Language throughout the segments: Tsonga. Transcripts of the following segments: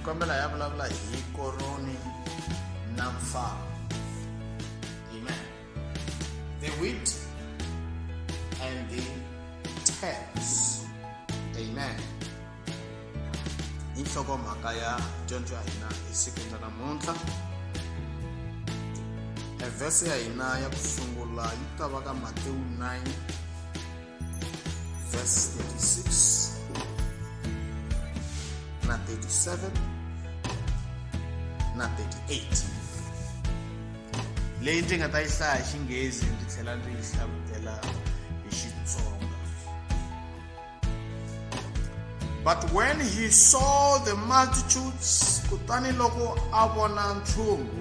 kombela ya vulavula hi koroni na mfana amen the wheat and the tares amen hi nhlokomhaka ya dyondzo ya hina esikwini ra namuntlha evhese ya hina ya ku sungula yi ta va ka matewu 9 Verse 36 na 37 na 38 leyi ndzi nga ta yi hlaya hi xinghezi ndzi tlhela ndzi yi hlavutela hi xitsonga but when he saw the multitudes kutani loko a vona ntlhungu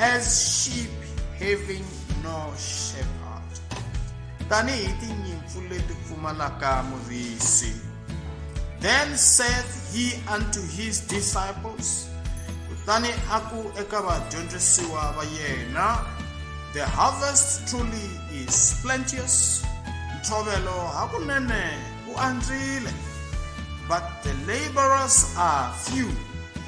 as sheep having no shepherd tanihi tinyimpfu leti pfumalaka muvisi then said he unto his disciples kutani a ku eka vadyondzisiwa va yena the harvest truly is plenteous ntshovelo hakunene u andzile but the laborers are few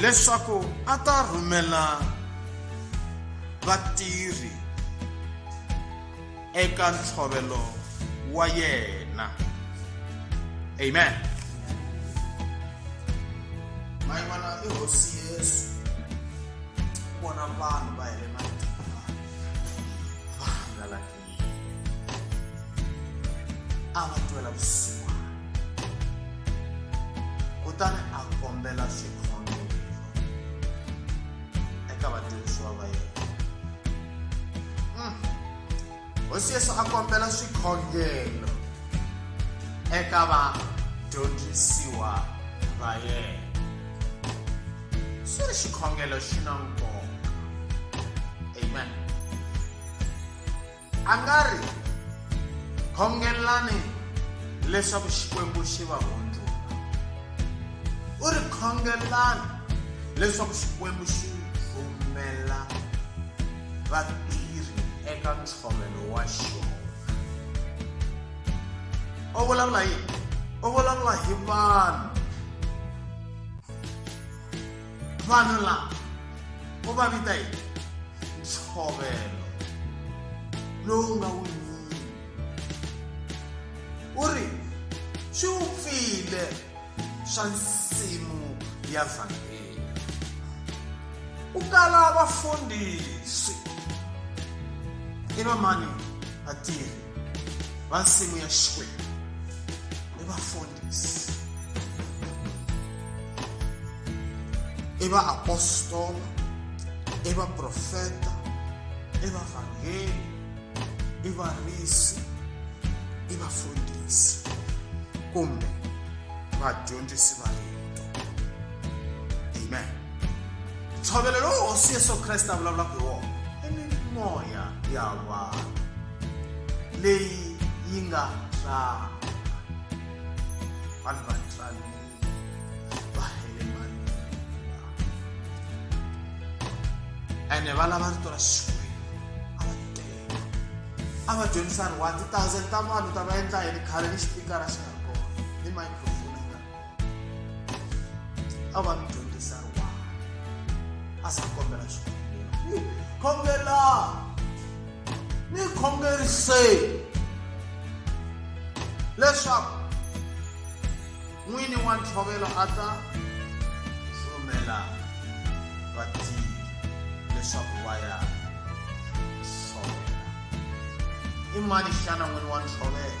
leswaku a ta rhumela vatirhi eka ntshovelo wa yena amen mayivana i hosi yesu vona vanhu va hele a va twela vusiwana kutani a kombela xikhongelo eka vatirhisiwa va yena hosi yesu a kombela swikhongelo eka vadyondzisiwa va yena swi ri xikhongelo xi na nkoka amen a nga ri khongelani leswaku xikwembu xi va hundzula u ri khongelani leswaku xikwembu xi rhumela vatirhi eka ntshovelo wa xona u vulavula yini u vulavula hi vanhu vanhu lava u va vita yini ntshovelo lowu nga wu nyini u ri swi wu pfile swa nsimu ya vhangeli ku kala vafundhisi i vamani vatirhi vansimu ya xikwembu i vafundhisi i vaapostola i vaprofeta i vavhangeli i varisi i vafundhisi kumbe vadyondzisi va rito amen ntshovelo lowu hosi yesu kreste a vulavulaka hi wona i mimoya ya vanhu leyi yi nga tswala vanhu va tsanile va hele manila ene va lava rito ra xikwembu a va tele a va dyondzisa ri wa ti-thousand ta vanhu ta va endla yini khale ni xipikara xi nga ri kona ni microphone a va ni dyondzisa riwana a sa kombela xikhongelo ni khongela ni khongerise leswaku n'wini wa ntshovelo a ta rhumela vatirhi leswaku va ya tshovela i mani xana n'wini wa ntshovelo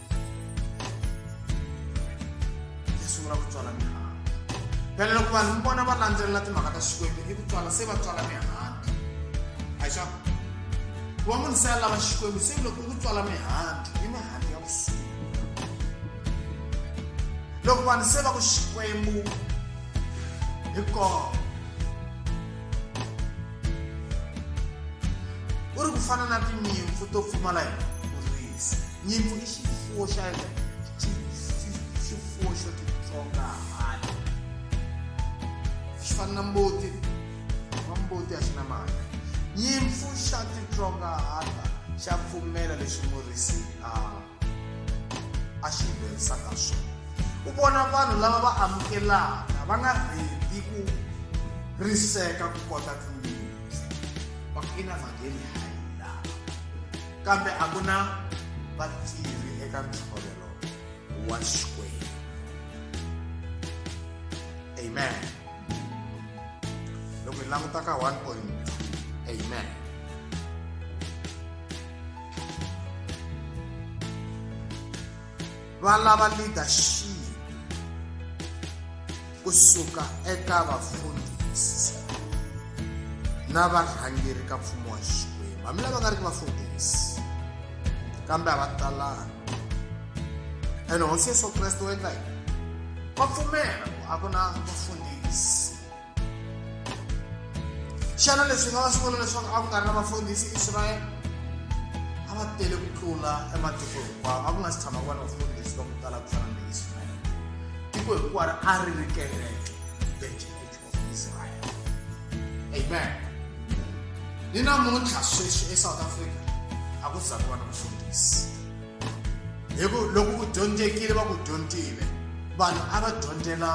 hi sungula ku tswala mihandzu phela loko vanhu mi vona va landzelela timhaka ta xikwembu i ku tswala se va tswala mihandzu a xa ku va munhu se a lava xikwembu se loko ku tswala mihandzu i mihandzu ya kusuhi loko vanhu se va ku xikwembu hi kona u ri ku fana na tinyimpfu to pfumala hi nyimpfu i xifuwo xa xifuwo xo titsonga hahani xi fana na mbuti wa mbuti a xi na mhaka nyimpfu xa titsonga hata xa pfumela leswi murisi a a xi yimberisaka swona u vona vanhu lava va amukelaka va nga rhedi ku riseka ku kota ku yinyimpfu va ku i na vhangeli kambe a ku na vatirhi eka ntshovelo wa xikwembu amen loko hi languta ka 1.2 amen va lava leadership kusuka eka vafundhisi na varhangeri ka mfumo wa xikwembu hambi lava nga ri ki vafundhisi kambe a va talanga ene hosi yesu kreste u endla yini va pfumela ku a ku na vafundhisi xana leswi nga va swi vona leswaku a ku nga ri na vafundhisi israyele a va tele ku tlula ematiko hinkwawo a ku nga si tshama ku va na vafundhisi va ku tala ku fana ni israyele tiko hinkwaro a ri ri kereke the church of israel amen ni namuntlha sweswi esouth africa a ku za ku va na vafundhisi hi ku loko ku dyondzekile va ku dyondzile vanhu a va dyondzela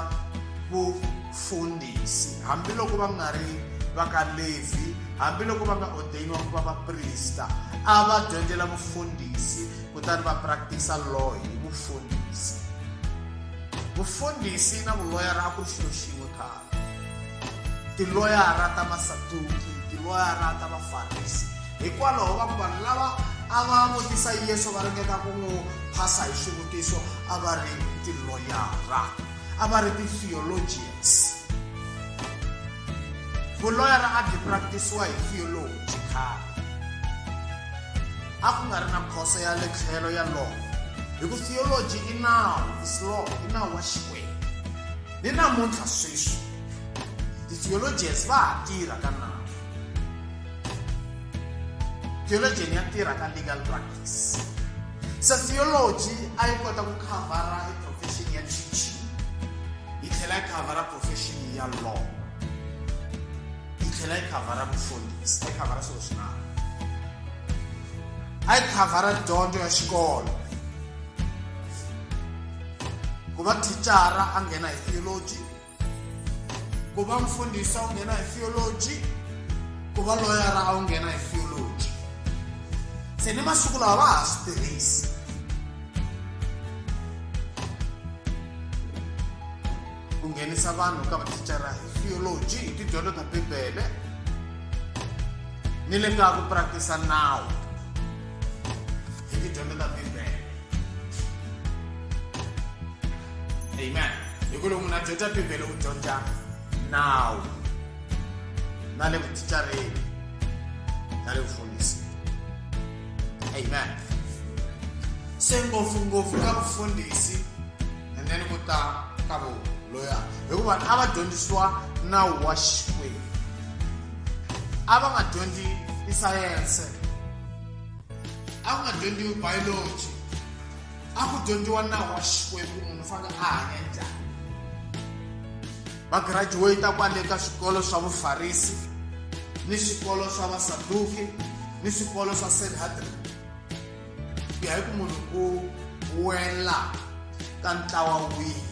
vufundhisi hambiloko va nga ri va ka levi hambiloko va nga odeyiniwa ku va vaprista a va dyondzela vufundhisi kutani va practice-a law hi vufundhisi vufundhisi na vuloyara a ku ri xilo xin'we khale tiloyara ta masaduki tiloyara ta vafarisi hikwalaho va ku vanhu lava a va vutisa yesu va ringeta ku n'wi phasa hi swivutiso a va ri tiloyara a va ri ti-theologians vuloyara a byi practisiwa hi theology khale a ku nga ri na khoso ya le tlhelo ya law hi ku theology i nawu is law i nawu wa xikwembu Ni namuntlha sweswi ti-theologians va ha tirha ka nawu theologian ya tirha ka legal practice se theology a yi kota ku khavhara hi profession ya teaching yi tlhela yi khavhara profession ya law yi tlhela yi khavhara vufundhisi a yi khavhara swilo swin'wana a yi khavhara dyondzo ya xikolo ku va thicara a nghena hi theology ku va mfundhisi a wu nghena hi theology ku va loyara a wu nghena hi theology se ni masiku lawa va ha swi tirhisi ku nghenisa vanhu ka mathicara hi theology hi tidyondzo ta bibele ni le ka ku practice nawu Hi ti dyondzela Bibele. Amen. Hi ku loko munhu a dyondza Bibele u dyondza nawu na le vuticareni na le vufundhisini. Amen. Se ngopfungopfu ka vufundhisi and then ku ta ka vona loya hikuva a va dyondzisiwa nawu wa xikwembu a va nga dyondzi isayense a ku nga dyondziwi biology a ku dyondziwa nawu wa xikwembu munhu fane a hanya njhani va graduate kwale ka swikolo swa vufarisi ni swikolo swa vasaduki ni swikolo swa sanhedrin ku ya hi ku munhu u wela ka ntlawa wihi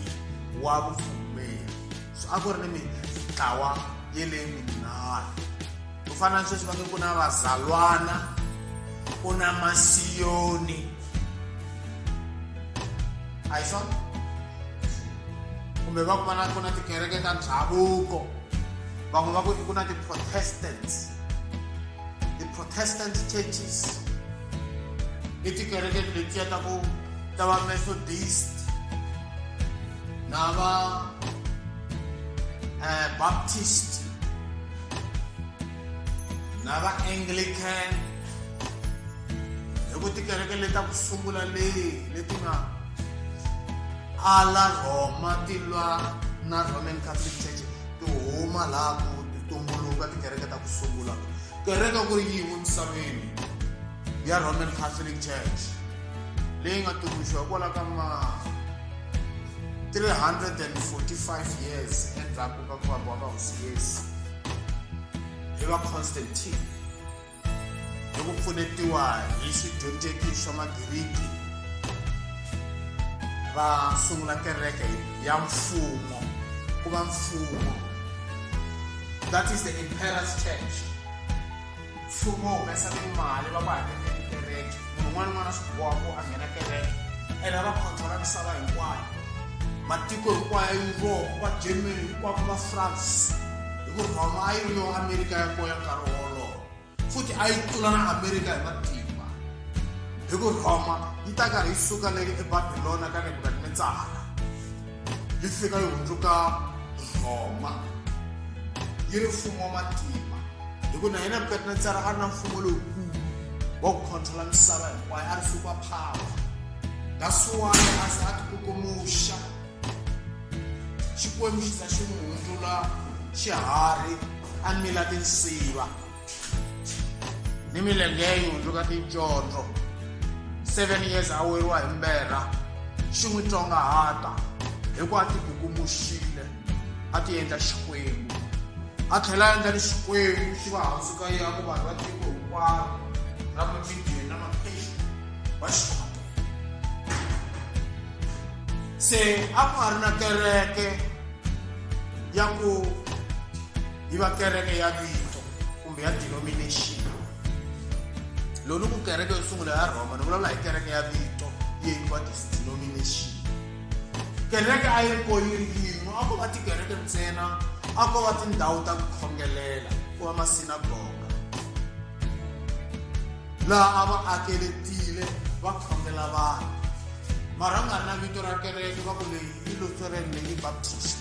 wa vupfumeri so a ku ri ni mitlawa ye leyi minharhu ku fana na sweswi va nge ku na vazalwana ku na masiyoni a hi swona kumbe va ku va na ku na tikereke ta ndhavuko van'we va ku ku na ti-protestants ti-protestant churches i tikereke letiya ta ku ta va methodist na va um baptist na vaanglican hi ku tikereke leta ku sungula leyi leti nga ala rhoma ti lwa na roman catholic church ti huma laha ku ti tumbuluka tikereke ta ku sungula kereke ku ri yin'we misaveni ya roman catholic church leyi nga tumbuluxiwa kwala ka ma 345 years endzhaku kwakuthiwa kwaba usiyesi eva constantine hi ku pfunetiwa hi xidyondzeki swa magiriki va sungula kereke ya mfumo ku va mfumo that is the emperor's church mfumo wu humesa timali va ku hakeleni kereke munhu un'wana n'wana swi boha ku a nghena kereke ene va khontrola misava hinkwayo matiko hinkwayo ya yurope va germany hinkwavo va france hi ku rhoma a yi ri yo amerika ya koya nkarhi wolowo futhi a yi tlula na amerika hi matimba hi ku rhoma yi ta karhi yi suka leyi ebabilona ka nebukadnetsara yi fika yi hundzuka nhoma yi ri mfumo wa matimba hi ku na hina vukati na tsara a ri na mfumo lowukulu wa ku khontrola misava hinkwayo a ri fika phawa dasuwani a se a tikukumuxa xikwembu xi za xi n'wi hundzula xiharhi a mila tinsiva ni milenge ya nhundzu ka ticondzo seven years a weriwa hi mberha xi n'wi tsongahata hi ku a ti kukumuxile a ti endla xikwembu a tlhela a endla ni xikwembu xi va hansi ka ya ku vanhu va tiko hinkwaro ra machudeni na mapheshi va xona se a ku nga ri na kereke ya ku yi va kereke ya vito kumbe ya denomination lolu ku kereke yo sungula ya rhoma ni vulavula hi kereke ya vito yi yikiwa denomination kereke a yi ri ko yi ri yin'we a ko va tikereke ntsena a ko va tindhawu ta ku khongelela ku va masinagoga laha a va akeletile va khongela vanhu mara a nga ri na vito ra kereke va ku leyi yi lutheran leyi baptist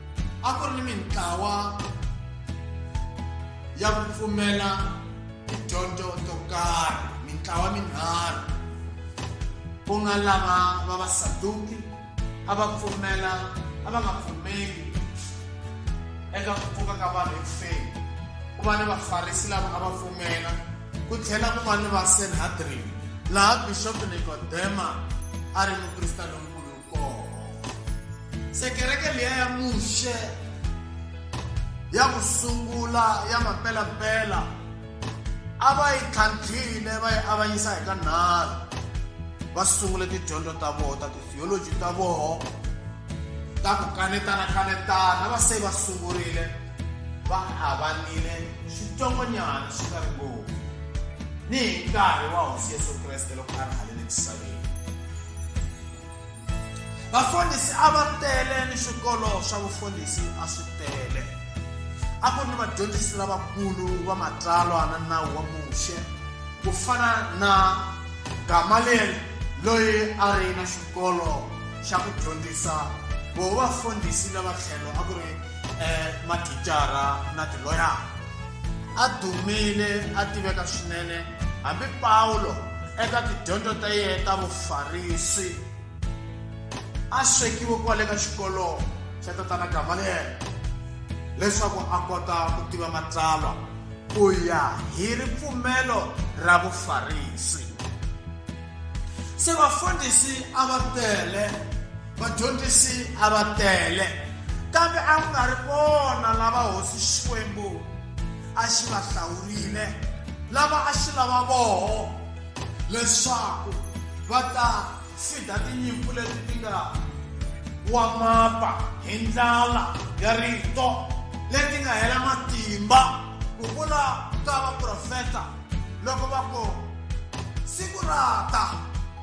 a ku ri ni mintlawa ya ku pfumela tidyondzo to karhi mintlawa minharhu ku nga lava va vasaduki a va pfumela a va nga pfumeli eka ku pfuka ka vanhu ekufeni ku va ni vafarisi lava a va pfumela ku tlhela ku va ni vasenhadrini laha bixopo nikodema a ri mukrista lonkulu se kereke leya ya muxe ya ku sungula ya mampelampela a va yi tlhantlhile va yi avanyisa hi ka nharhu va sungule tidyondzo ta vona ta titheoloji ta vona ta ku kanetana kanetana va se va sungurile va avanile xitsongonyana xi nga ri ngopfu ni hi nkarhi wa hosi yesu kreste loko a ri halele misaveni vafundhisi a va tele ni swikolo swa vufundhisi a swi tele a ku ni vadyondzisi lavakulu va matsalwa na nawu wa muxe ku fana na gamaliyeli loyi a ri na xikolo xa ku dyondzisa vo vafundhisi lava tlhelo a ku ri um mathicara na tiloyara a dumile a tiveka swinene hambi pawulo eka tidyondzo ta yena ta vufarisi a swekiwe kwale ka xikolo xa tatana gamaliyele leswaku a kota ku tiva matsalwa ku ya hi ripfumelo ra vufarisi se vafundhisi a va tele vadyondzisi a va tele kambe a ku nga ri vona lava hosi xikwembu a xi va hlawurile lava a xi lava voho leswaku va ta fida tinyimpfu leti ti nga wa mapa hi ndlala ya rito leti nga hela matimba ku vula ka vaprofeta loko va ku siku ra ta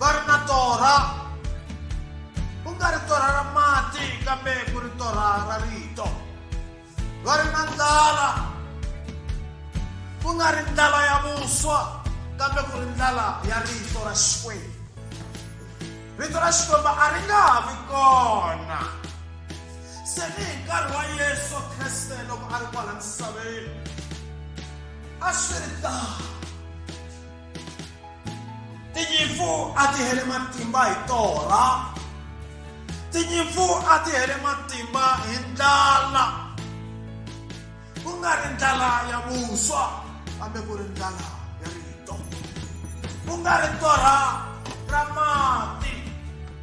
va ri na torha ku nga ri torha ra mati kambe ku ri torha ra rito va ri na ndlala ku nga ri ndlala ya vuswa kambe ku ri ndlala ya rito ra xikwembu rito ra xikwembu a ri nga ha vi kona se ni hi nkarhi wa yesu kreste loko a ri kwala misaveni a swi ri tano tinyimpfu a ti hele matimba hi torha tinyimpfu a ti hele matimba hi ndlala ku nga ri ndlala ya vuswa kambe ku ri ndlala ya rito ku nga ri torha ra mati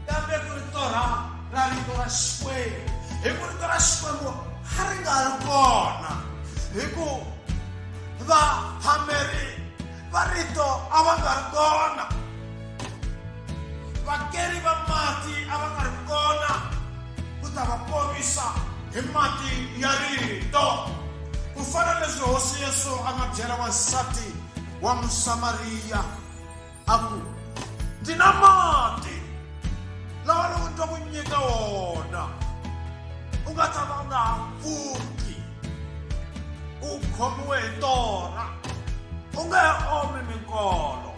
kambe ku ri torha ra rito ra xikwembu hi ku rito ra xikwembu a ri nga ri kona hi ku va hameri va rito a va nga ri kona vakeri va mati a va nga ri kona ku ta va ponisa hi mati ya rito ku fana leswi hosi yesu a nga byela wansati wa musamariya a ku ndzi na mati lawa loko ndza ku nyika wona u nga tshama u nga ha pfuki u khomiwe hi tona u nge he omi minkolo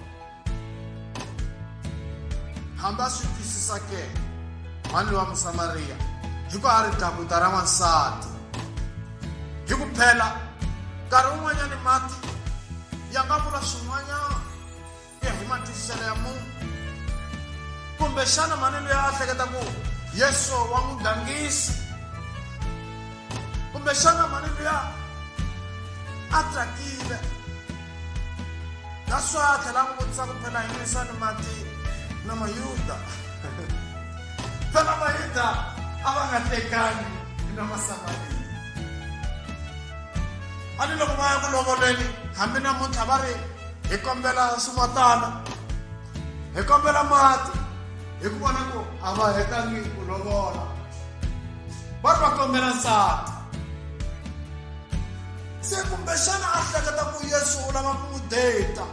hambi a swi twisisa ke mhani wa musamariya hi ku a ri dakuta ra n'wansati hi ku phela nkarhi wun'wanyani mati ya nga vula swin'wanyana ya hi matwisiselo ya munhu kumbexana mani loyi a hleketa ku yesu wa n'wi gangisi kumbexana mani luya a tsakile naswa a tlhela n'wi vutisa ku phela hi nwisa ni mati na mayuda phela mayuda a va nga tekani na masamariya a ni loko va ya ku lovoleni hambi namuntlha va ri hi kombela swimatana hi kombela mati hi ku vona ku a va hetangi ku lovola va ri va kombela nsati se kumbexana a hleketa ku yesu u lava ku n'wi data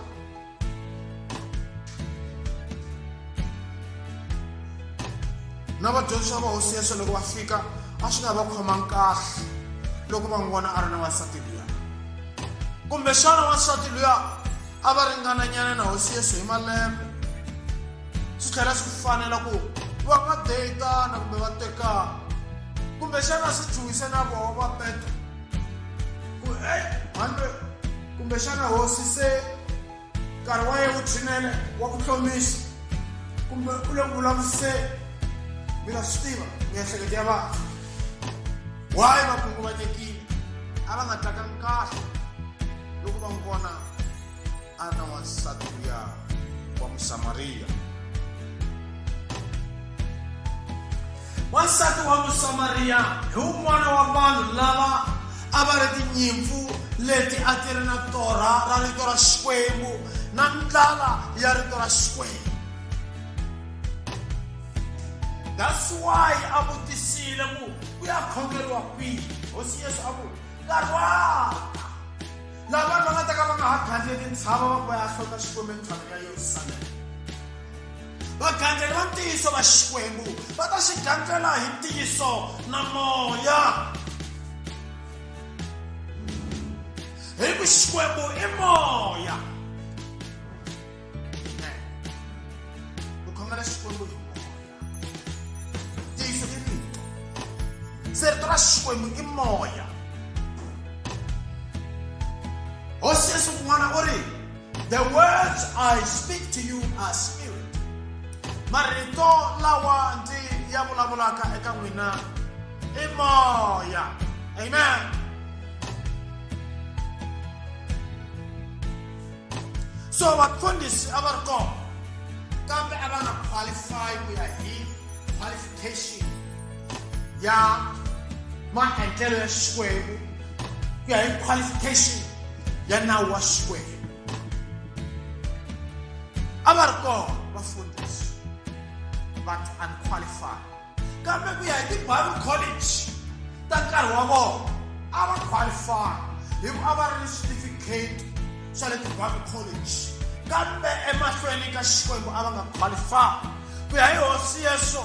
na vadyondzisi va hosi yesu loko va fika a swi nga va khomangi kahle loko va n'wi vona a ri na wansati liya kumbexana wansati luya a va ringananyana na hosi yesu hi malembe swi tlhela swi fanela ku va va deyitana kumbe va tekana kumbexana swi chuhise na voho va petro ku e handle kumbexana hosi se nkarhi wa ye wu tshinele wa ku tlomisa kumbe u le ku vulavuriseni mi nga swi tiva miehleketo ya vanhu wayi va khunguvanyekile a va nga tlakangi kahle loko va n'wi vona a ri na wansati luya wa musamariya Wansati wa Musamariya hi wun'wana wa vanhu lava a va ri tinyimpfu leti a ti ri na torha ra rito ra Xikwembu na ndlala ya rito ra Xikwembu. That's why a vutisile ku ku ya khongeriwa kwihi. Hosi Yesu a ku nkarhi wa lava va nga ta ka va nga ha khandziye tintshava va ku va ya hlota Xikwembu entshaveni ya Yerusalema. vagandzeli va ntiyiso va xikwembu va ta xi gandzela hi ntiyiso na moya hi ku xikwembu i moya ku khongela xikwembu hi moya ntiyiso i rito se rito ra xikwembu i moya hosi yesu kun'wana u ri The words I speak to you are spirit. Marito lawa ndi ya vulavulaka eka n'wina i moya. Amen. So vafundhisi a va ri kona kambe a va nga qualify ku ya hi qualification ya maendlelo ya xikwembu ku ya hi qualification ya nawu wa xikwembu a va ri kona vafundhisi but unqualified kambe ku ya hi ti-bible college ta nkarhi wa vona a va qualify hi ku a va ri ni certificate xa le ti-bible college kambe emahlweni ka xikwembu a va nga qualify ku ya hi hosi yeso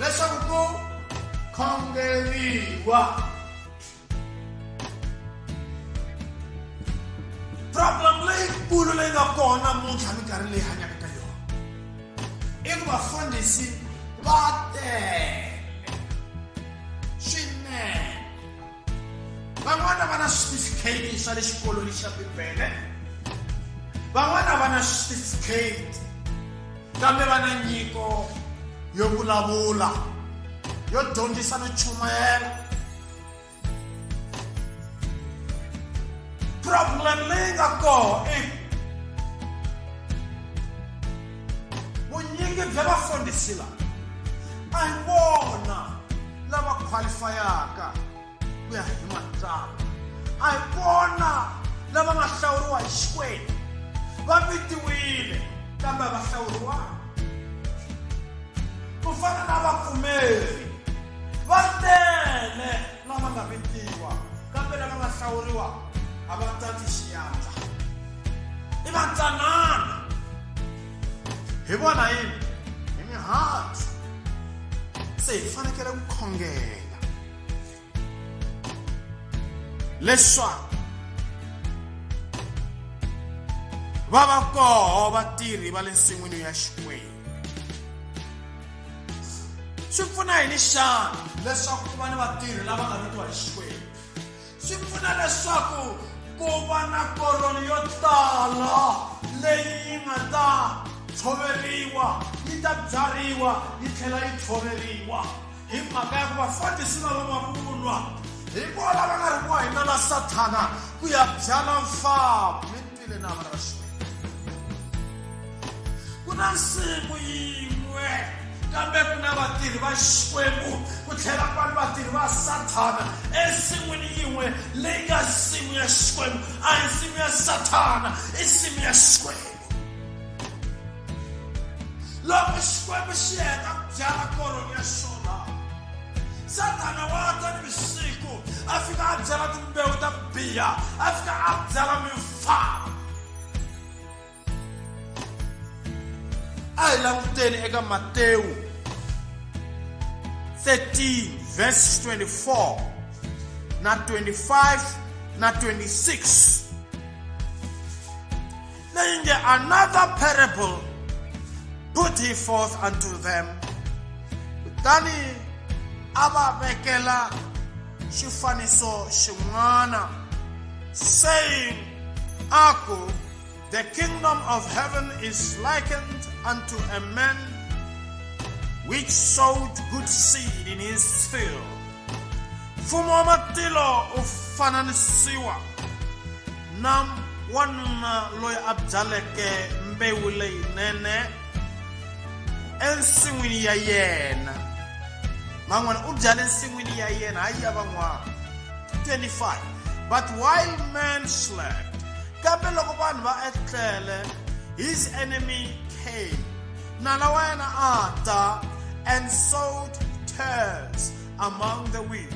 leswaku ku khongeriwa problem leyikulu leyi nga kona muntlha minkarhi leyi hanyaka ka yona i ku vafundhisi va tele swinene van'wana va na switifikheti swa le xikolweni xa bibele van'wana va na switifikheti kambe va na nyiko yo vulavula yo dyondzisa no chumayela problem leyi nga kona i vunyingi bya vafundhisi lava a hi vona lava khwalifayaka ku ya hi matsalwa a hi vona lava nga hlawuriwa hi xikwembu va vitiwile kambe va hlawuriwa ku fana na vapfumeri va tele lama nga vekiwa kambe lava nga hlawuriwa a va tati xiyandla i vatsanana hi vona yini hi mihandzu se hi fanekele ku khongela leswaku va va koho vatirhi va le nsin'wini ya xikwembu swi pfuna yini xana leswaku ku va ni vatirhi lava nga ritiwa hi xikwembu swi pfuna leswaku ku va na koroni yo tala leyi yi nga ta tshoveriwa yi ta byariwa yi tlhela yi tshoveriwa hi mhaka ya ku vafandisi lava va vunwa hi vona va nga ri ku wa hina la sathana ku ya byala mfamu na maraswe ku na nsimu yin'we kambe ku na vatirhi va xikwembu ku tlhela ku va ni vatirhi va sathana ensin'wini yin'we leyi nga nsimu ya xikwembu a hi nsimu ya sathana i nsimu ya xikwembu loko xikwembu xi heta ku byala koroni ya xona sathana wa ta ni vusiku a fika a byala timbewu ta ku biha a fika a byala mimfana a hi languteni eka matewu 13 verse 24 na 25 na 26 Then in the another parable put he forth unto them kutani a va vekela xifaniso xin'wana saying a ku the kingdom of heaven is likened unto a man which sowed good seed in his field mfumo wa matilo u fananisiwa na wanuna loyi a byaleke mbewu leyinene ensin'wini ya yena man'wana u byale ensin'wini ya yena hayi ya van'wana 25 but while man slept kambe loko vanhu va etlele his enemy came nala wa yena a ta and sowed tares among the wheat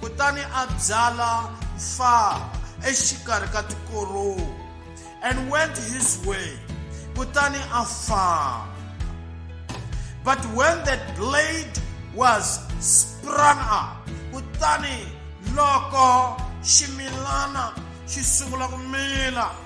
kutani a byala mfava exikarhi ka tikorowu and went his way kutani a famba but when that blade was sprung up kutani loko ximilana xi sungula ku mila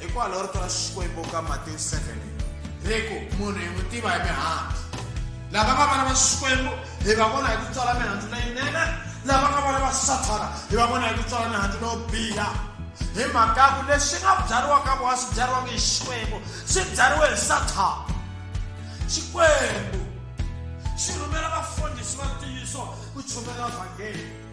hikwalaho rito ra xikwembu ka matewu 7 ri ku munhu hi n'wi tiva hi mihandzu lava nga vana va xikwembu hi va vona hi ku tswala mihandzu leyinene lava nga vona va sathana hi va vona hi ku tswala mihandzu leyo biha hi mhaka ku leswi nga byariwaka vona swi byariwaka hi xikwembu swi byariwe hi sathana xikwembu xi rhumela vafundhisi va ntiyiso ku chumela vhangeli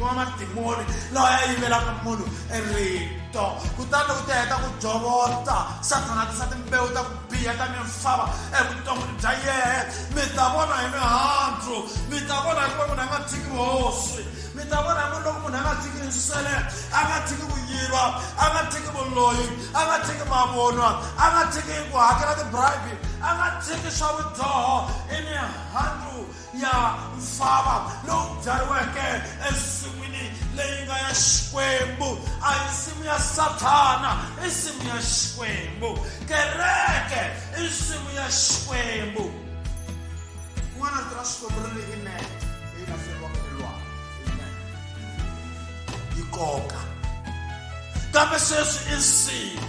wa madimoni lawa ya yivelaka munhu rito kutani u ta heta ku jovota sathana tisa timbewu ta ku biha ta mimfava evuton'wini bya yehe mi ta vona hi mihandzu mi ta vona hikuva munhu a nga tshiki hosi mi ta vona hi munhu loko munhu a nga tshiki nsele a nga tshiki ku yiva a nga tshiki vuloyi a nga tshiki mavonwa a nga tshiki ku hakela tibribe a nga tshiki swa vudzoho i mihandzu ya mfava lowu byariweke ensin'wini leyi nga ya xikwembu a hi nsimu ya sathana i nsimu ya xikwembu kereke i nsimu ya xikwembu n'wana rito ra xikwembu ri ri inene leyi nga feriwaka elwana amen yi koka kambe sweswi i nsimu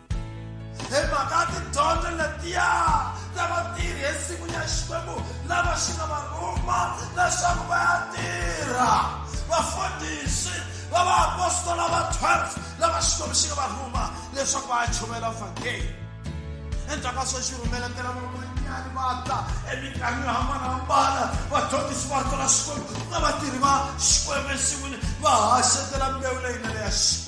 hi mhaka tidyondzo letiya ta vatirhi ensin'wini ya xikwembu lava xi nga va rhuma leswaku va ya tirha vafundhisi va vaapostola va 12 lava xikwembu xi nga va rhuma leswaku va ya chovela vhangeli endzhaku ka swo xi rhumeletela van'wanyani va ta eminkarhini yo hambanahambana vadyondzisi va rito ra xikwembu na vatirhi va xikwembu ensin'wini va haxetela mbewu leyinene ya xikwembu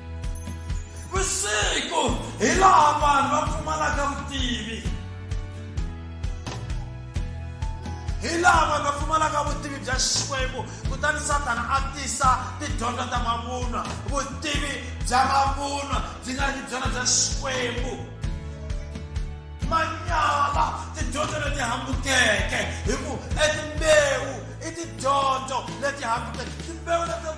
vusiku hi laha vanhu va pfumalaka vutivi hi laha vanhu va pfumalaka vutivi bya xikwembu kutani satana a tisa tidyondzo ta mavunwa vutivi bya mavunwa byi nga ri byona bya xikwembu manyala tidyondzo leti hambukeke hi ku etimbewu i tidyondzo leti hambukeke timbewu leti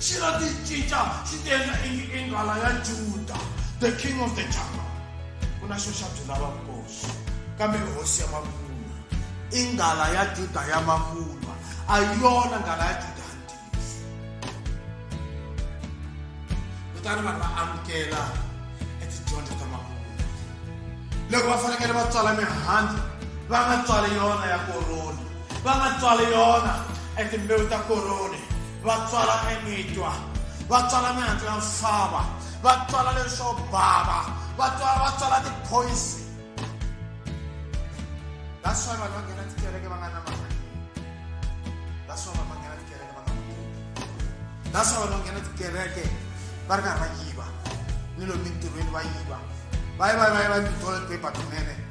xi nga ti cinca xi ti endla ingi i nghala ya juda the king of the jungle ku na xo xa byela vakosi kambe hosi ya mavunwa i nghala ya juda ya mavunwa a yona nghala ya juda ya ntiyiso kutani vanhu va amukela etidyondzo ta mavunwa loko va fanekele va tswala mihandzu va nga tswali yona ya koroni va nga tswali yona etimbewu ta koroni va tswala emitwa va tswala mihandzu ya misava va tswala leswo bava va tswala va tswala tiphoyisi that's why vanhu va nghena tikereke va nga na mali that's why vanhu va nghena tikereke va nga that's why vanhu va nghena tikereke va ri karhi va yiva ni lomu mintirhweni va yiva va yi va yi va yi va yi tithole paper tinene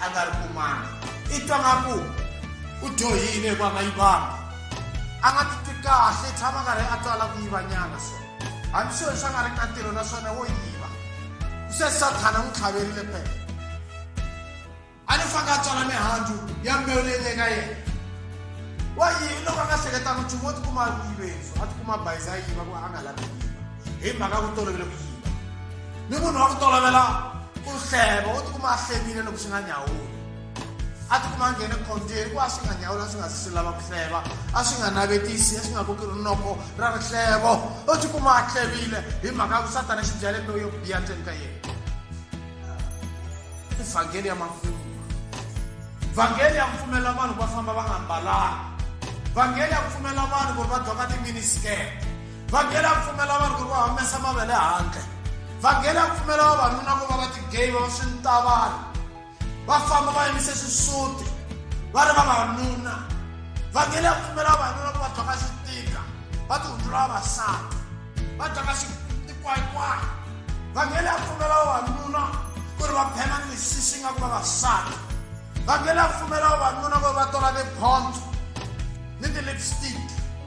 a nga ri kumanga i twa nga ku u dyohile hikuva nga yivanga a nga titwi kahle i tshama karhi a tswala ku yivanyana so hambi swilo leswi a nga ri ka ntirho naswona wo yiva se sathana n'wi tlhaverile pele a ni fange a tswala mihandzu ya mbewu leyi le ka yena wa yini loko a nga hleketanga nchumu wo tikuma a yiveni so a tikuma bayiza a yiva ku a nga lavi yiva hi mhaka ku tolovele ku yiva ni munhu wa ku tolovela ku hleva u tikuma a hlevile loko swi nga nyawuli a tikuma a nghene khonjeni hikuva a swi nga nyawuli a swi nga zi swi lava ku hleva a swi nga navetisi a swi nga koki rinoko ra rihlevo u tikuma a hlevile hi mhaka ya ku satana xi byale loyo biya ndzeni ka yena ivhangeli ya makumu vhangeli ya ku pfumelela vanhu va famba va nga mbalanga vhangeli ya ku pfumelela vanhu ku ri va doka timinisikete vhangeli a pfumela vanhu ku ri va humesa mavele handle vhangeli a pfumela vavanuna ku va va tigeyi va va swi ni ta vanhu va famba va yimise xisuti va ri vavanuna vhangeli a pfumela vavanuna ku va dyoka xitika va tihundzula vavasati va dyoka xikwayikwayi vhangeli a pfumela vavanuna ku ri va phema ni misisi nga ku vavasati vhangeli a pfumela vavanuna ku ri va tola tiphondzo ni ti-lipstick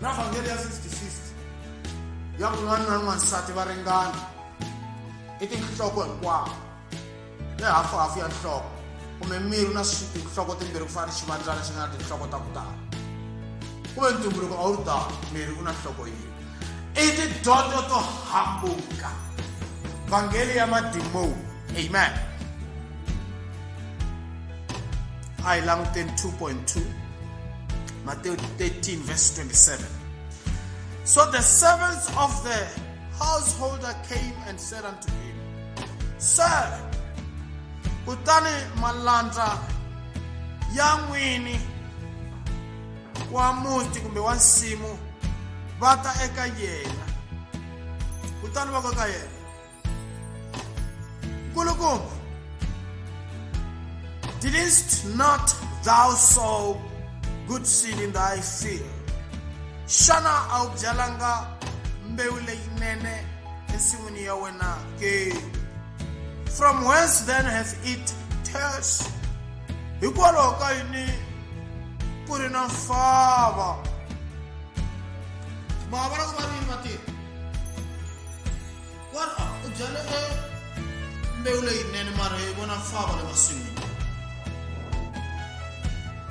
na vhangeli ya 50-50 ya ku n'wana na n'wansati va ringana i tinhloko hinkwawo ni hafuhafu ya nhloko kumbe miri na tinhloko timbirhi ku fana ni xivandzana xi nga na tinhloko ta ku tala kumbe ntumbuluko a wu ri tala miri u na nhloko yini i tidyondzo to hambuka vhangeli ya madimoni amen a hi languteni 2.2 matewu 13 verse 27 so the servants of the householder came and said unto him sir kutani malandza ya n'wini wa muti kumbe wa nsimu va ta eka yena kutani va ka ka yena nkulukumba didst not thou sow good seed in thy field xana a wu byalanga mbewu leyinene ensin'wini ya wena ke from whence then has it turs hikwalaho ka yini ku ri na mfava ma vona ku va rini vatirhi wa ri u byale e mbewu leyinene mara yi vona fava le masin'wini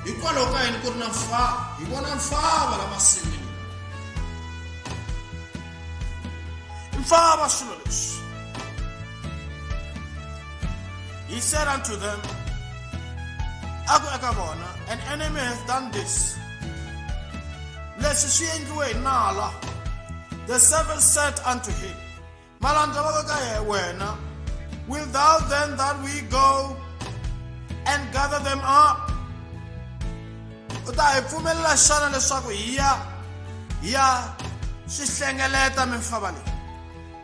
hikwalaho ka yini ku ri na mfava hi vona mfava la masin'wini mfava swilo leswi he said unto them a ku eka vona an enemy has done this leswi swi endliwe hi nala the seven said unto him malandza va ka ka wena will thou then that we go and gather them up u ta hi pfumelela xana leswaku hi ya hi ya swi hlengeleta mimfava leyi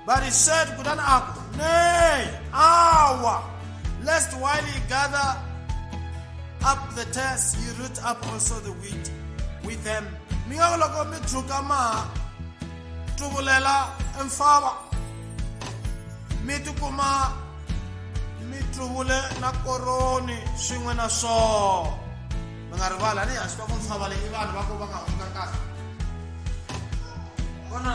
But he said, Kudan Aku, Nay, awa, lest while ye gather up the tares, ye root up also the wheat with them. Mi nga loko mi tshuka ma tuvulela mfava mi tikuma mi tluvule na koroni swin'we na swona mi nga rivala ni hansi ka ku mfava leyi vanhu va ku va nga hundza kahle vona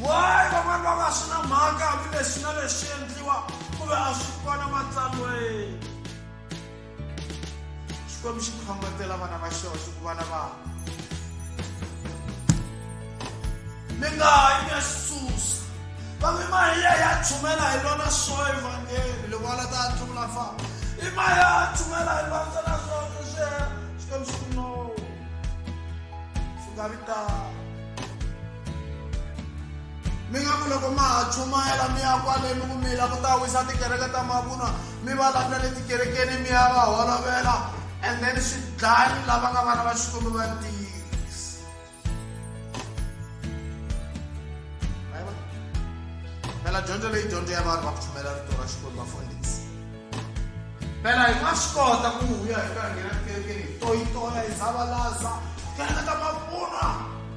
wayi van'wana va nga swi na mhaka hambileswi na leswi endliwa ku ve a swi kona matsalweni xikwembu xi khongetela vana va xona xi ku vana va mi nga hayi mi ya xi susa va mi mahiya ya chumela hi lona swo evangeli loko va la ta tlula fa i mahiya ya chumela hi lona na swo swi xikwembu xi ku no swi nga vitana mi nga ku loko ma ha chumayela mi ya kwale mi ku mi la ku ta wisa tikereke ta mavunwa mi va landza le tikerekeni mi ya va holovela and then swi dlani lava nga vana va xikwembu va ntiyiso phela dyondzo leyi dyondzo ya vanhu va ku chumela rito ra xikwembu vafundhisi phela hi nga swi kota ku huya hi ka nghena tikerekeni hi toyitoya hi zavalaza kereke ta mavunwa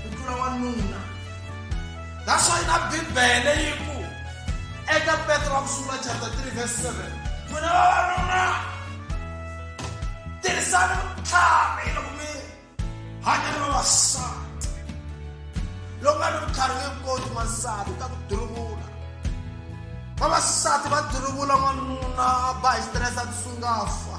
ku tlula wanuna that's why na bibele yi ku eka petro wa ku sungula chapter 3 verse 7 n'wina vavanuna tirhisani vutlhari loko mi hanya ni vavasati loko nga ni vutlhari nge koti n'wansati u ta ku duruvula vavasati va duruvula n'wanuna a ba hi stress a tisungafa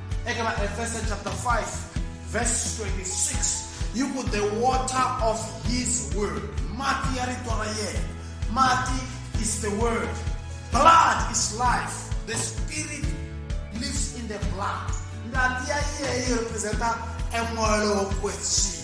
eka vaefesa chapter 5 verse 26 yi ku the water of his word mati ya rito ra yena mati is the word blood is life the spirit lives in the blood ngati ya yeyi representa emoya lowo kwetsini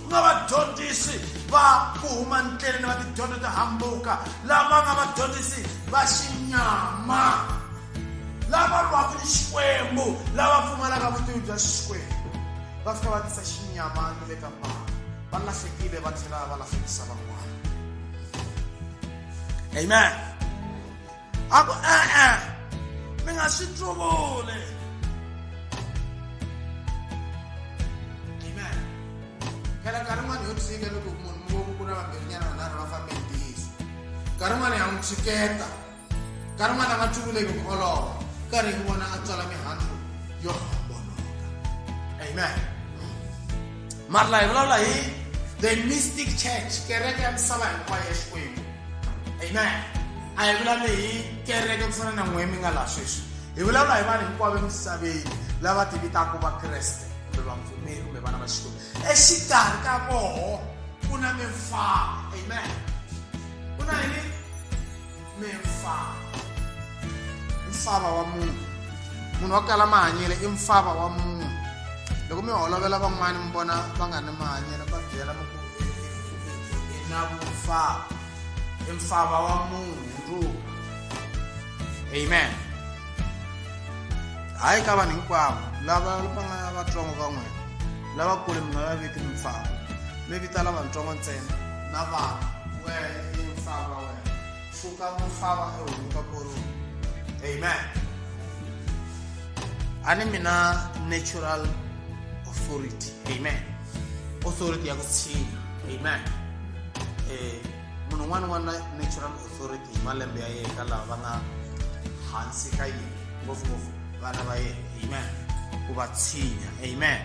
ku nga vadyondzisi va ku huma ndleleni va tidyondzo to hambuka lava nga vadyondzisi va xinyama lava lwaka ni xikwembu lava pfumalaka vutivi bya xikwembu va fika va tisa xinyama ni le ka mbangu va lahlekile va tlhela va lahlekisa van'wana amen a ku e-e mi nga swi tluvuli amen phela nkarhi n'wana yo tshika loko munhu mi voku ku ri vambirhinyana vanharhu va fambe hi ntiyiso nkarhi n'wana ya n'wi tshiketa nkarhi n'wana a nga tluvuleki ku olova nkarhi hi vona a tswala mihandzu yo homboloka amen mara hi vulavula hi the mystic church kereke ya misava hinkwayo ya xikwembu amen a hi vulavuli hi kereke ku fana na n'we mi nga laha sweswi hi vulavula hi vanhu hinkwavo emisaveni lava ti vitaka vakreste kumbe vapfumeri kumbe vana va xikwembu exikarhi ka voho ku na mimfana amen ku na yini me mfava mfava wa munhu munhu wa kala mahanyelo i mfava wa munhu loko mi holovela van'wana mi vona va nga ni mahanyelo va byela mi ku i na vumfava i mfava wa munhu ndruka amen hayi ka vanhu hinkwavo lava va nga vatsongo ka n'wina lavakulu mi nga va viti mimfava mi vita lavatsongo ntsena na vana wena i mfava wena So ka mo fava e o ka koro. Amen. Ani mina natural authority. Amen. Authority ya kutsina. Amen. Eh munhu un'wana n'wana natural authority hi malembe ya yena lava va nga hansi ka yini ngopfungopfu vana va yena amen ku va tshinya amen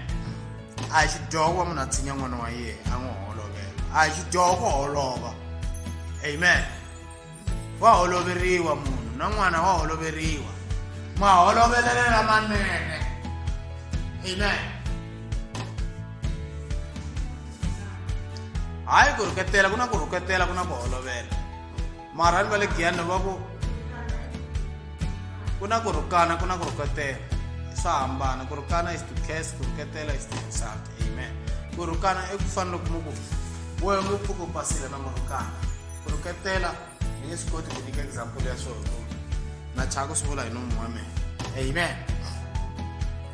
a hi xidyoho ku va munhu a tshinya n'wana wa yena a n'wi holovela a hi xidyoho ku holova amen wa holoveriwa munhu na n'wana wa holoveriwa maholovelelo lamanene amen hayi ku rhuketela ku na ku rhuketela ku na ku holovela marhani va le giyani va ku ku na ku rhukana ku na ku rhuketela swa hambana ku rhukana is to case ku rhuketela is to insult amen ku rhukana i ku fana loko mu ku wehe mu pfuka u basile na murhukana ku rhuketela ni nge swi koti ku nyika example ya swona na chaka swi vula hi nomu wa mina amen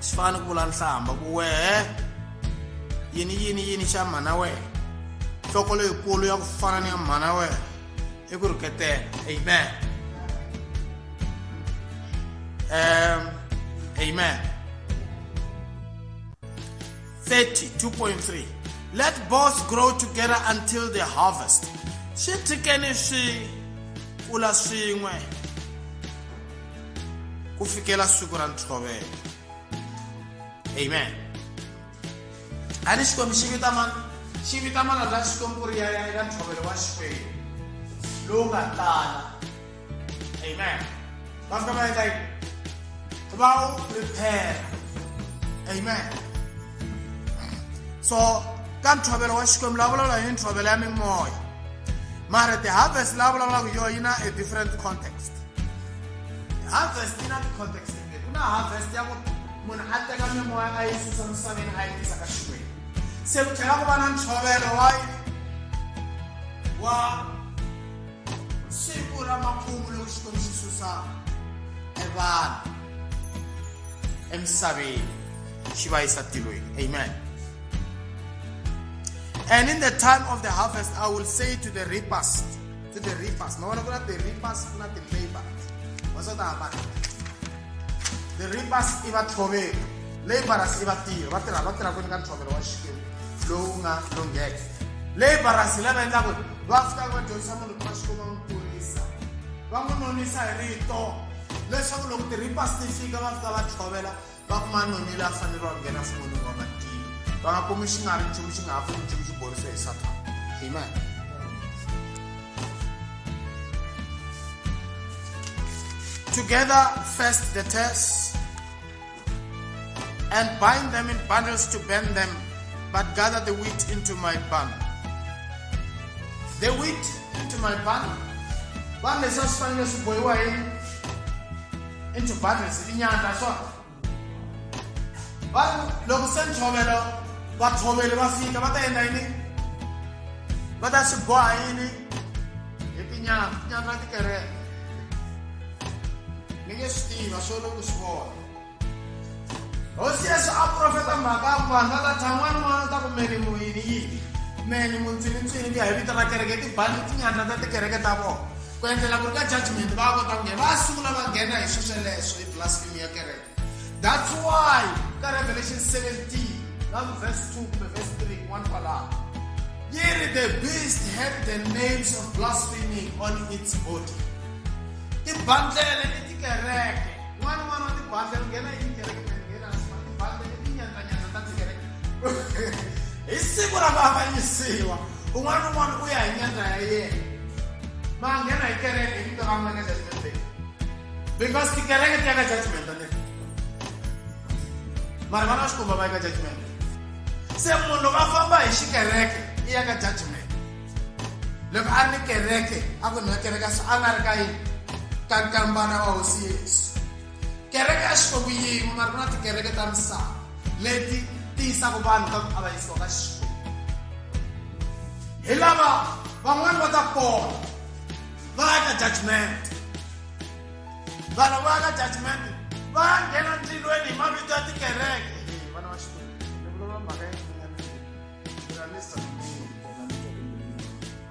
swi fana ku vula nhlamba ku wehe yini yini yini xa mhana wehe nhloko leyikulu ya ku fana ni ya mhana wehe e ku rhuketela amen um amen 32.3 let both grow together until the harvest swi tshikeni swi kula swin'we ku fikela siku ra ntshovelo amen ani xikwembu xi vita mana xi vita mana la xikwembu ku ri ya ya eka ntlhovelo wa xikwembu lowu nga tala amen va fika va endla yini va wu prepare amen so ka ntlhovelo wa xikwembu la vulavula hi ntlhovelo ya mimoya mara ti-harvest la vulavulaka yo yi na a different context harvest yi na ti-context ku na harvest ya ku munhu a teka mimoya a yi susa misaveni a yi tisa ka xikwembu se ku tlhela ku va na ntshovelo wa wa siku ra makumu lowu xikwembu xi susa evanhu emisaveni xi va yisa tilweni amen And in the time of the harvest, I will say to the reapers, ti the reapers ma vona ku na the reapers ku na the laborers wa swa ta the reapers i vathloveri laborers i vatirhi va tirha va tirha kwini ka ntshovelo wa xikwembu lowu nga lungheke laborers hi lava endlaku va fika va dyondzisa munhu ku va xikwembu va n'wi kurisa va n'wi nonisa hi rito leswaku loko ti-reapers ti fika va fika va tshovela Va kuma noni la fanele wa nghena fumoni wa matilo. Va nga kumi xi nga ri nchumu xi nga ha pfuni nchumu xi borise hi Sathana. Amen. together first the tares and bind them in bundles to burn them, but gather the wheat into my barn. The wheat into my barn. Barn is just finding us boy into bundles inyandla so va loko se ntshovelo vatshoveli va fika va ta endla yini va ta swi boha yini hi tinyama tinyama ti kereke mi nge swi tiva swo loko swi vona hosi yesu a profeta mhaka ku vanhu va ta tshan'wana n'wana u ta ku meni muyini yini meni muntsini ntsini ku ya hi vito ra kereke tibandi tinyandla ta tikereke ta vona ku endlela ku ri ka judgment va kota ku nghena va sungula va nghena hi swesweleswo hi blasphemy ya kereke that's why ka revelation 17 la verse 2 kumbe verse 3 one kwalaho yi ri the beast had the names of blasphemy on its body tibandlele i tikereke n'wana n'wana wa tibandlele nghena hi tikereke nghena tibandlele i tinyandanyanda ta tikereke hi siku ra vavanyisiwa un'wana na un'wana u ya hi nyandza ya yena ma nghena hi kereke hi vito ra n'wina judgment day because tikereke ti ya ka judgment ne mara vana va xikomba va ya ka judgment se munhu loko a famba hi xikereke i ya ka judgment loko a ri ni kereke a ku nwa kereke a nga ri ka yini ka nkambana wa hosi yesu kereke a xi fo ku yin'we mara ku na tikereke ta misava leti ti yisaka vanhu ka ku avanyisiwa ka xikwembu hi lava van'wani va ta pona va ya ka judgment vanhu va ya ka judgment va ya nghena ndzilweni hi mavito ya tikereke vana va xikwembu mhaka ya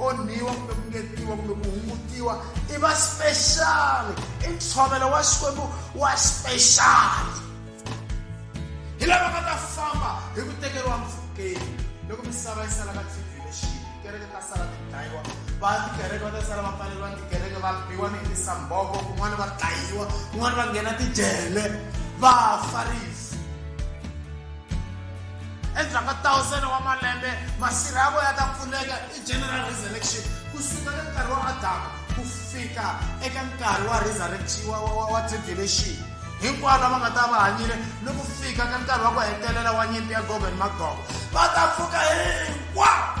onhiwa kumbe ku ngetiwa kumbe ku hungutiwa i va speciali i ntshovelo wa xikwembu wa speciali hi lava nga ta famba hi ku tekeriwa mpfhukeni loko misava yi sala ka tribulation tikereke ta sala ti dlayiwa va tikereke va ta sala va pfaleriwa tikereke va biwa ni hi tisamboko kun'wana va dlayiwa kun'wana va nghena tijele va farisa endzhaku ka tawusene wa malembe masirha ya vona ta pfuleka i general resurrection ku suka ka nkarhi wa adamu ku fika eka nkarhi wa resurrection wa, wa, wa, wa tribulation hinkwavo lava nga ta va hanyile ni ku fika ka nkarhi wa ku hetelela wa nyimpi ya gogo ni magogo va ta pfuka hinkwavo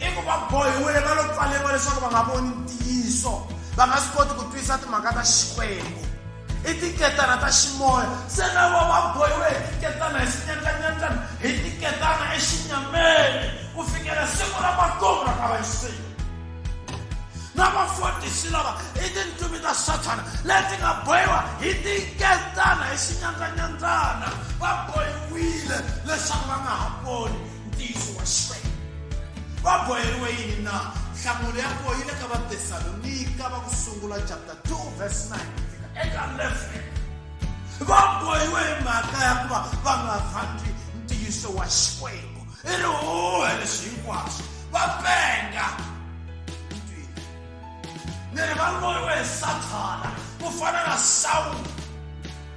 i ku va bohiwile va lo pfaleriwa leswaku va nga voni ntiyiso va nga swi koti ku twisisa timhaka ta xikwembu i tiketana ta ximoya se na vo va bohiwe hi tiketana hi xinyandlanyandlana hi tiketana exinyameni ku fikela siku ra makumu ra ka vayisenyi na vafundhisi lava i tindzumi ta sathana leti nga bohiwa hi tiketana hi xinyandlanyandlana va bohiwile leswaku va nga ha voni ntiyiso wa xixevo va boheriwe yini na nhlamulo ya koho yi le ka vatesalonika va ku sungula chapter 2 verse 9 fika eka 11 va bohiwe hi mhaka ya ku va va nga rhandzi ntiyiso wa xikwembu i ri huhe leswi hinkwaswo va penga ni ri va loyiwe hi sathana ku fana na sawula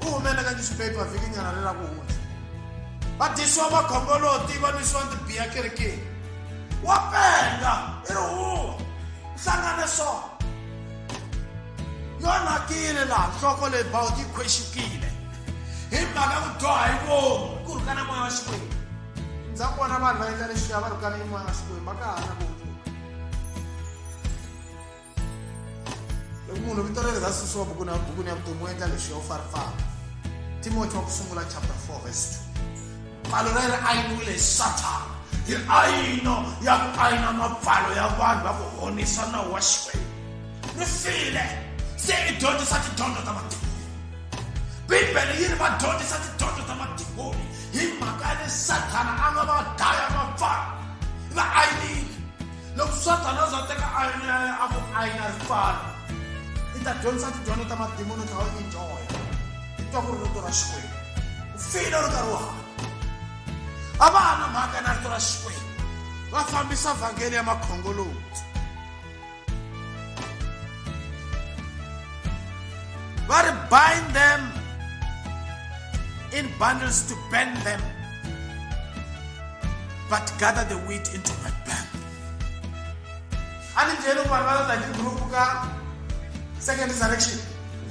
u humele ka newspaper vhikinyana ri ra ku hundza vadisiwa makhongoloti va nwisiwa tibiya kerekeni wa penga i ri huwa hlangane swona yo nakile laha nhloko leyi bawuti yi khwexukile hi mhaka ku dyoha hi vomu ku rhukana moya wa xikwembu ndza vona vanhu va endla leswiya va rhukana hi moya wa xikwembu va ka ha na ku loko munhu vito ra ra susiwa bukuni ya bukuni ya vutomi u endla lexi yo farifana timoti wa ku sungula chapter 4 verse 2 pfalo ra ri ayiniwile hi sathana hi ayino ya ku ayina mapfalo ya vanhu va ku honisa na wa xikwembu ri file se i dyondzisa tidyondzo ta matimu bibele yi ri va dyondzisa tidyondzo ta madimoni hi mhaka ya le sathana a nga va daya mapfalo va ayinile loko sathana a za teka ayini ya yena a ku ayina ri pfala i ta dyondzisa tidyondzo ta madimoni ta wena injoya i twa ku ri rito ra xikwembu u file ri karhi u hanya a va ha na mhaka na rito ra xikwembu va fambisa vhangeli ya makhongoloti va ri bind them in bundles to bend them but gather the wheat into my bank anindleni ku vanhu va ta hi group ka second resurrection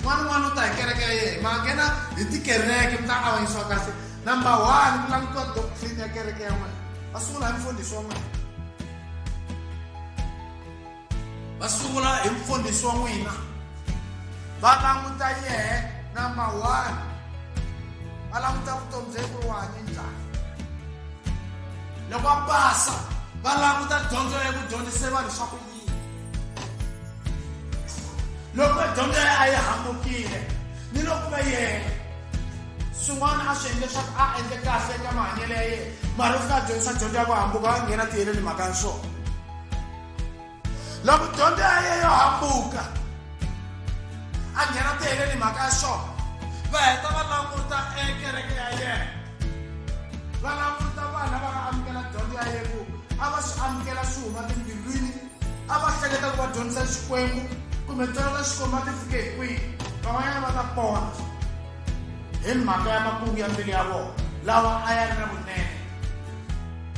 n'wana n'wana u ta hi kereke ya yena mangena hi tikereke mi ta avanyisiwa kahle number one mi langutiwa doctrine ya kereke ya n'wina va sungula hi mfundhisi wa n'wina va sungula hi mfundhisi wa n'wina va languta yehe number one va languta vutomi bya ku wa ni njhani loko a pasa va languta dyondzo ya ku dyondzise vanhu swa ku yini loko dyondzo ya a yi hambukile ni loko va yena swin'wana a swi endle leswaku a endle kahle eka mahanyelo ya yena mara u fika a dyondzisa dyondzo ya ku hambuka a nghena tiheleni mhaka ya swona loko dyondzo ya ye yo hambuka a nghena tiheleni mhaka ya swona va heta va languta ekereke ya yena va languta vana va nga amukela dyondzo ya yena ku a va swi amukela swi huma timbilwini a va hleketa ku va dyondzisa xikwembu kumbe tsona ta xikwembu va ti fike hi kwihi van'wanyana va ta pona hi mhaka ya makungu ya mbilu ya vona lawa a ya ri na vunene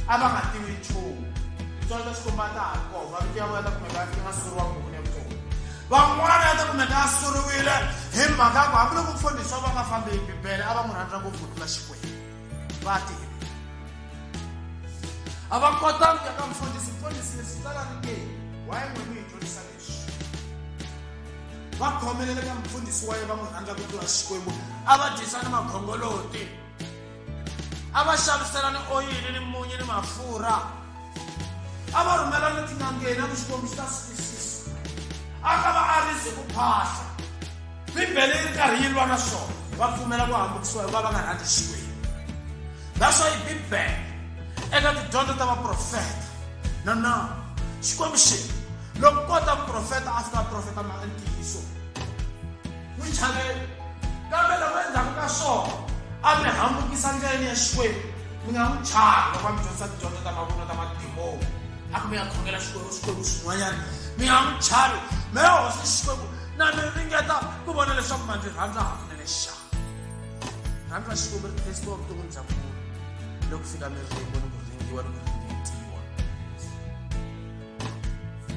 a va nga tivi nchumu titswalo swi komba ta ha kona mavito ya vona ta kumeka ya nga suriwa buku ni vutomi van'wana ya ta kumeka ya suriwile hi mhaka ku hambiloko mfundhisi wa va nga fambi hi bibele a va n'wi rhandza ngopfu ku tlula xikwembu va tivi a va kota ku ya ka mfundhisi mfundhisi leswi tsala ri ke waye n'we mi hi dyondzisa leswi va khomelele ka mfundhisi wa ye va n'wi rhandza ku tlula xikwembu a va dyisa ni makhongoloti a va xaviselani oyili ni munyi ni mafurha a va rhumela ni tin'angeni a ku xikombiso ta swisiso a ka va arisi ku phahla bibele yi ri karhi yi lwa na swona va pfumela ku hambukisiwa hikuva va nga rhandzi xikwembu naswo yi bibele eka tidyondzo ta vaprofeta na na xikwembu xi loko kota muprofeta a fika profeta ma ntiyiso n'wi chavela kambe loko endzhaku ka swona a mi hambukisa ndleleni ya xikwembu mi nga n'wi chavi loko a mi dyondzisa tidyondzo ta mavunwa ta madimoni a ku mi ya khongela xikwembu xikwembu swin'wanyana mi nga n'wi chavi mi ya hosi xikwembu na mi ringeta ku vona leswaku ma ndzi rhandza hakunene xana rhandza xikwembu ri tesiwa vuton'wini bya munhu loko fika miringo ni ku ringiwa ni ku ringiwa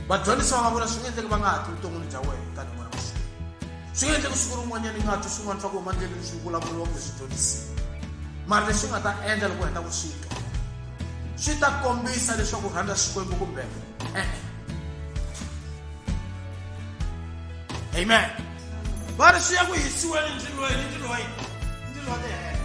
vadyondzisiwa va vula swi nga endleka va nga ha ti vuton'wini bya wena tani n'wana wa xikolo swi nga endleka siku rin'wanyana yi nga twi swin'wana swa ku huma ndleleni swi vulavuriwa kumbe swi dyondzisiwa mara leswi nga ta endla loko heta ku swi twa swi ta kombisa leswaku u rhandza xikwembu kumbe e-e amen va ri swi ya ku hisiweni ndzilweni ndzilo wa yini ndzilo wa le henhla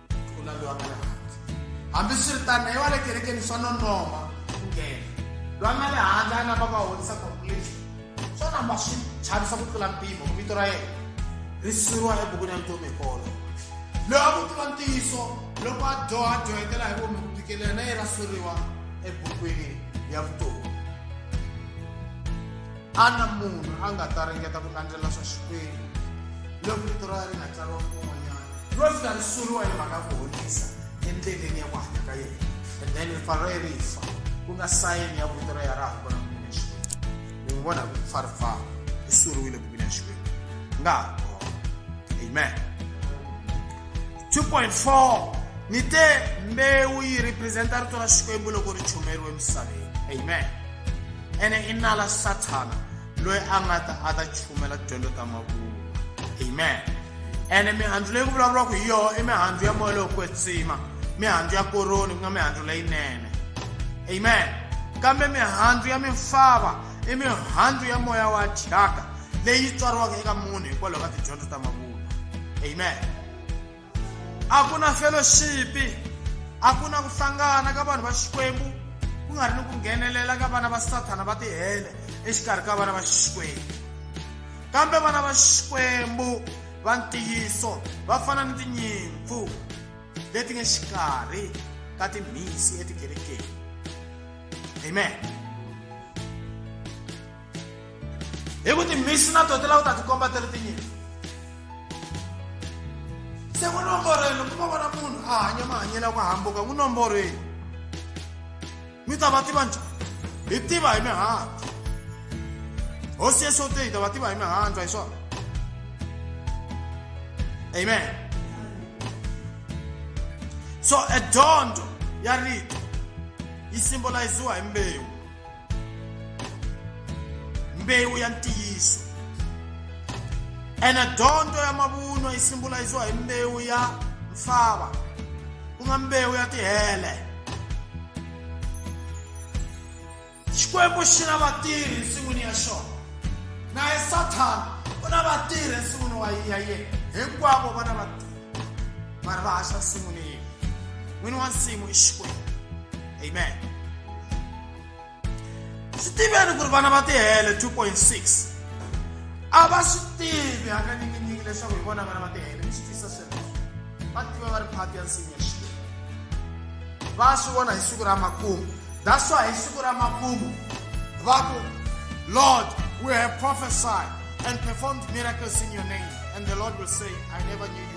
ku laviwa nga le handle hambiswiritano i wa le kerekeni swa nonoma ku nghena loyi a nga le handle a namba va honisa conclusion swo namba swi chavisa ku tlula mpimo vito ra yena ri siyiwa ebukwini ya vutomi hi kolo loyi a ku tiva ntiyiso loko a dyoha a dyohetela hi vomi ku tikelela na yena suriwa ebukwini ya vutomi a na munhu a nga ta ringeta ku landzela swa xikwembu loko vito ra ri nga tsariwa kun'wanyana ro fika ri suriwa hi mhaka ku honisa endleleni ya ku hanya ka yena and then rifa ro ye ri fa ku nga sayini ya vito ra ya ra ha kona ku mina xikwembu mi n'wi vona ku fa ri fa ri suriwile ku mina xikwembu nga ha kona amen 2.4 ni te mbewu yi representa rito ra xikwembu loko ri chumeriwe emisaveni amen ene i nala sathana loyi a nga ta a ta chumela tidyondzo ta mavunwa amen ene mihandzu leyi ku vulavuriwaka hi yoho i mihandzu ya moya lowo kwetsima mihandzu ya koroni ku nga mihandzu leyinene amen kambe mihandzu ya mimfava i mihandzu ya moya wa thyaka leyi tswariwaka eka munhu hikwalaho ka tidyondzo ta mavunwa amen a ku na fellowshipi a ku na ku hlangana ka vanhu va xikwembu ku nga ri ni ku nghenelela ka vana va sathana va tihele exikarhi ka vana va xikwembu kambe vana va xikwembu va ntiyiso va fana ni tinyimpfu leti nge xikarhi ka timhisi etikerekeni amen hi ku timhisi na to ti lava ku ta tikomba ti ri tinyimpi se ku nomborweni loko va vona munhu a hanya mahanyelo ya ku hambuka ku nomborweni mi ta va tiva njhani hi tiva hi mihandzu hosi yesu te hi ta va tiva hi mihandzu hi swona amen so edyondzo ya rito yi simbolayiziwa hi mbewu mbewu ya ntiyiso ene dyondzo ya mavunwa yi simbolisiwa hi mbewu ya mfava ku nga mbewu ya tihele xikwembu xi na vatirhi ensin'wini ya xona naye sathana u na vatirhi ensin'wini wa ya yena hinkwavo va na vatirhi mara va haxa nsin'wini yini n'wini wa nsimu i xikwembu amen swi tiveni ku ri vana va tihele 2.6 a va swi tivi hakanyikinyiki leswaku hi vona vana va tihele mi swi tisa sweswo va tiva va ri phati ya nsimu ya xikwembu va swi vona hi siku ra makumu that's why hi siku ra makumu va ku lord we have prophesied and performed miracles in your name and the lord will say i never knew you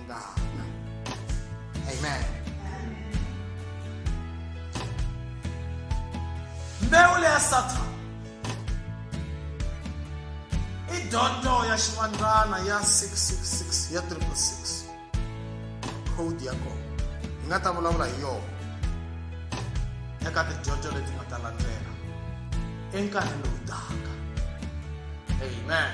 God. Amen. mbewu leya sathana i dyondzo ya xivandzana ya 666 ya 666 code ya kona hi nga ta vulavula hi yona eka tidyondzo leti nga ta landzela enkarhi lowu taka amen